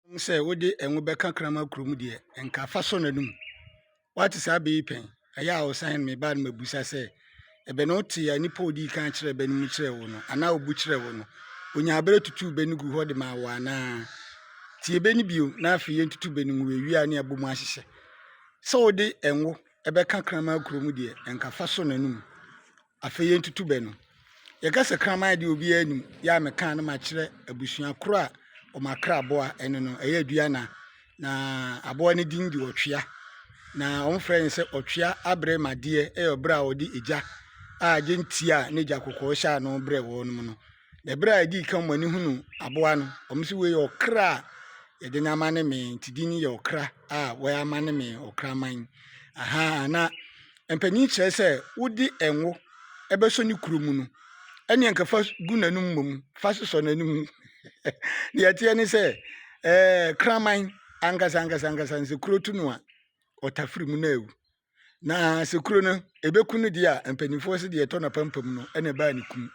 Ɛwom sɛ wode ngo bɛka kraman kuro mu deɛ, nka fa sɔ n'anom. Woate saa bɛ yi pɛn? Ɛyɛ a ɔsan ne me baa no mabisa sɛ, Ɛbɛ na wotee a nnipa a ɔdii kan kyerɛɛ bɛ no mu kyerɛɛ wo no, anaa ɔbu kyerɛɛ wo no? Ɔnyaa berɛ tutuu bɛ no guu hɔ de maa wo anaa? Tie bɛ no bio, na afei yɛntutu bɛ no ngu awie a na yɛabɔ mu ahyehyɛ. Sɛ wode ngo bɛka kraman kuro mu deɛ, nka fa sɔ n'anom. Afei yɛntutu bɛ no. Yɛka sɛ kraman deɛ obiara nim, yɛ a mekaa no ma kyerɛ abusua korɔ a wɔn akra aboa ɛne no, ɛyɛ aduana, na aboa no din de ɔtwea, na wɔn frɛ no sɛ ɔtwea abrɛ ma deɛ ɛyɛ ɔbrɛ a wɔde egya a gyentia a n'egya kɔkɔɔ hyɛ ano brɛ wɔnom no. Na bere a edii kan wɔn ani hunu aboa no, wɔsi wei yɛ ɔkra a yɛde no ama ne mee nti din yɛ ɔkra a wɔyɛ ama ne mee ɔkraman aha na mpanyin kyerɛ sɛ wode ɛnwo ɛbɛsɔ ne kuro mu no ɛne nka fa gu n'anum mmom fa sosɔ n'anum deɛ ɛteɛ ne sɛ ɛɛ kraman ankasa ankasa ankasa nsɛ kuro tu no a ɔtafiri mu na ewu Na sɛ kuro no ɛbɛku no deɛ a, mpanimfoɔ sɛ deɛ ɛtɔ n'apampam no ɛna ɛbaa ne kum.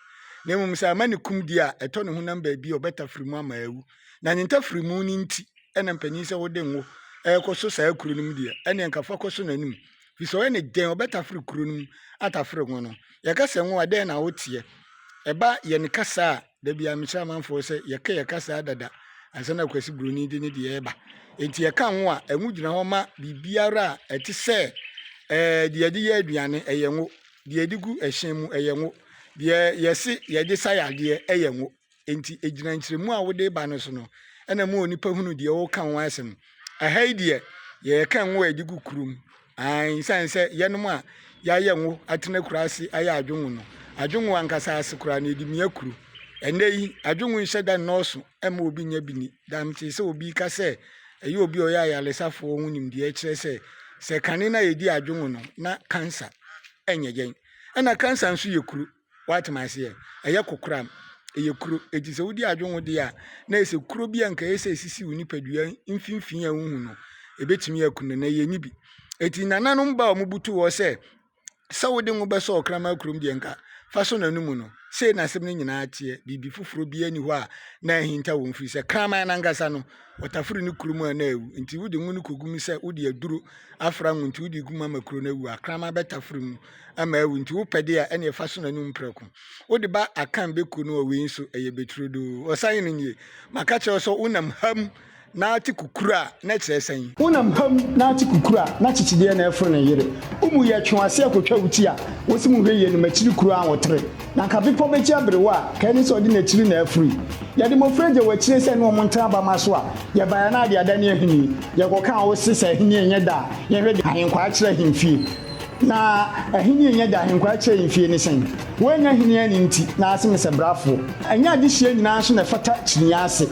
Na mmom sɛ ama ne kum deɛ a, ɛtɔ ne honam baabi a ɔbɛtafiri mu ama awu. Na ne ntafiri mu no nti ɛna mpanin sɛ wode ngo ɛrekɔ so saa kuro no mu deɛ, ɛne nka fa kɔ so n'anim. Firi sɛ ɔyɛ ne dɛn ɔbɛtafiri kuro no mu atafiri ngo no. Yɛka sɛ ngo a, dɛn na woteɛ? Ɛba yɛn kasa a Da biara mekyerɛ amanfoɔ sɛ yɛka yɛ kasaa dada ansa na Kwasi Buroni de ne deɛ reba. Enti yɛka ngo a, ngo gyina hɔ ma biribiara a ɛte sɛ ɛɛ deɛ yɛde yɛ aduane, ɛyɛ ngo. Deɛ yɛde gu ɛhyɛn mu, ɛyɛ ngo. Deɛ yɛse yɛde sa yɛ adeɛ, ɛyɛ ngo. Enti ɛgyina nkyerɛmu a wode ba no so no, ɛna ɛma onipa hunu deɛ woreka ho asɛm. Ɛha yi deɛ, yɛka ngo a yɛde gu kuro mu. Aane, esiane sɛ yɛnom a yɛayɛ ngo atena kuro ase ayɛ adwongo no, adwongo ankasa ase koraa no, yɛde mia kuro. Ɛnnɛ yi, adwongo nhyɛ da nnɔɔso mma obi nyɛ bi ni. Daa metee sɛ obi reka sɛ ɛyɛ obi a ɔyɛ ayaresafoɔ ho nimdeɛ kyerɛ sɛ, sɛ kane no a yɛdi adwongo no, na cancer nyɛ yɛn. Ɛnna cancer nso yɛ kuro. Wate me ase ɛ? Ɛyɛ kokoram. Ɛyɛ kuro. Enti sɛ wodi adwene ho deɛ a, na ayɛ sɛ kuro bi a nka ɛyɛ sɛ ɛsisi wo nipadua mfimfini a wohu no, ɛbɛtumi aku no, na ɛyɛ ne bi. Enti nananom ba a wɔbutu hɔ sɛ, sɛ wode ngo bɛsɔ ɔkraman kurom deɛ nka fa sɔ n'anomu no. Sei na asɛm no nyinaa teɛ. Biribi foforɔ biara nni hɔ a na ahinta wɔn firi sɛ kraman no ankasa no, wɔtaforo no kuro mu a na awu. Enti wode ngo no kɔgu mu sɛ wode aduro afra ngo nti wode gu mu ama kuro no awu a, kraman bɛtaforo mu. ama awu nti wopɛ de a ɛne fa so n'anum prɛko wode ba akan bɛku no wɔ wei nso ɛyɛ bɛturodoo ɔsan no nie maka kyerɛ wo sɛ wonam ha mu na ate kukuru a na ɛkyerɛ sɛn. Wonam ha mu na ate kukuru a na kyekyedeɛ na ɛforo ne yere wo mu yɛ twe w'ase ɛkotwa wo ti a wose mu hwɛ yie no makyiri kuro a wotere na nka bepɔ bɛkyi abere wo a ka ɛne sɛ ɔde n'akyiri na afiri yɛde mmɔfra agya wo akyire sɛ ɛne wɔn ntra abamma so a yɛbaeɛ a na ade adane ahini yɛkɔkaa wose sɛ ahini ɛnyɛ da a yɛhwɛ de ahenkwaa kyerɛ ahemfie. Na ahenni a enya dahenkwaa kyɛe mfe ne sɛn? Woennya hene anni nti, na ase me sɛ brafo. Ɛnyɛ adesua nyinaa nso na ɛfata kyiniiɛ ase.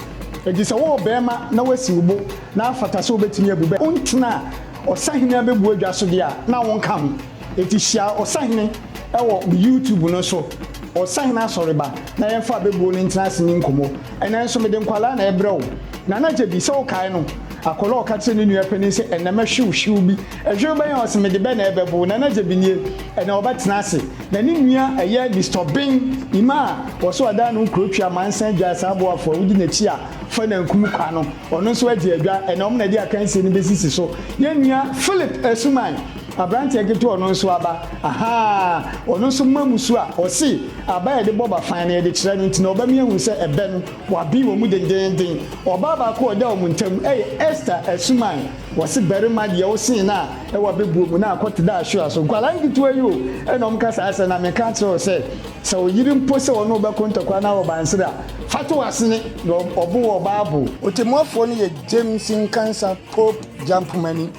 Enti sɛ wowɔ barima na woasi wo bo na afata sɛ wobetumi abu bɛ ntena ɔsahene abɛbuo adwa so de a, na wonka ho. Enti hyia ɔsahene wɔ me YouTube no so, Ɔsahene Asɔreba, na yɛmfa abɛbuo no ntena ase nni nkɔmmɔ. Ɛnnɛ nso mede nkwadaa na ɛrebrɛ wo. Nana Gyebi, sɛ wokae no, akwadaa a ɔka kyerɛɛ ne nua panin sɛ, Ɛnnɛ mɛhwe wo hyew bi. Hwew bɛn a ɔse mede bɛ na ɛbɛbow Nana Gyabi nie ɛnɛ ɔbɛtena ase Na ne nua ɛyɛ Mister Obeng Ima a ɔse ɔdan ne ho kuro twi Amansan gyae saa boafo a wodi n'akyi a fa na nkum kwa no Ɔno nso agye adwa ɛnɛ ɔmo na ɛde akansie no bɛsisi so Yɛn nua Phillip Asuman abranteɛ ketewa ɔno nso aba Ahaa ɔno nso ma mu su a ɔse aba a yɛde bɔ ba fan no yɛde kyerɛ no nti na ɔba mi ahu sɛ ɛbɛ no wabee wɔn mu dendeenden Ɔbaa baako a ɔda wɔn ntam ɛyɛ Esther Asuman Wɔse barima deɛ wosee no a ɛwɔ abɛbuo mu na akɔ te dɛ ahwewa so. Nkwadaa nketewa yi o ɛna wɔn ka saa asɛm no. Na meka akyerɛ wo sɛ, sɛ wo yere mpo sɛ ɔne wo bɛko ntɔkwa anaa ɔbansere a, fa to w'asene na ɔbo wɔ ɔbaa bo. Ɔtɛmmuafoɔ no yɛ James Nkansah Pope Jampomani,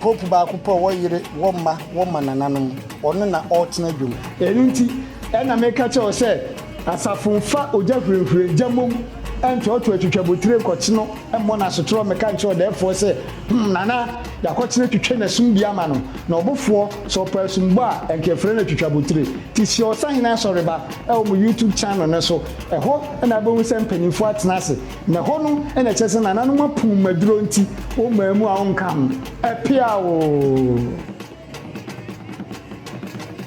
Pope baako pɛ ɔwɔ yere, wɔ mma, wɔ mmanananom. Ɔno na ɔretena dwom. Ɛno nti ɛna meka kyerɛ wo sɛ. Asafo mfa ogya hurehurɛ gya mmom ntoatoa twitwabotire nkɔkye no mmɔ no asotorɔ mmɛka nkyerɛ ɔdɛɛfoɔ sɛ, Hum, Nana, yɛakɔkye no atwitwa n'asum bi ama no, na ɔbofoɔ, sɛ ɔpɛ asumbɔ a, ɛnka yɛfrɛ no atwitwabotire. Te hyia Ɔsahene Asɔreba wɔ mo YouTube channel no so. Ɛhɔ na wobɛhu sɛ mpanimfoɔ atena ase, na ɛhɔ no na ɛkyerɛ sɛ nananom apu mmaduro nti wommaa mu a wonka ho. Ɛpeaw oo!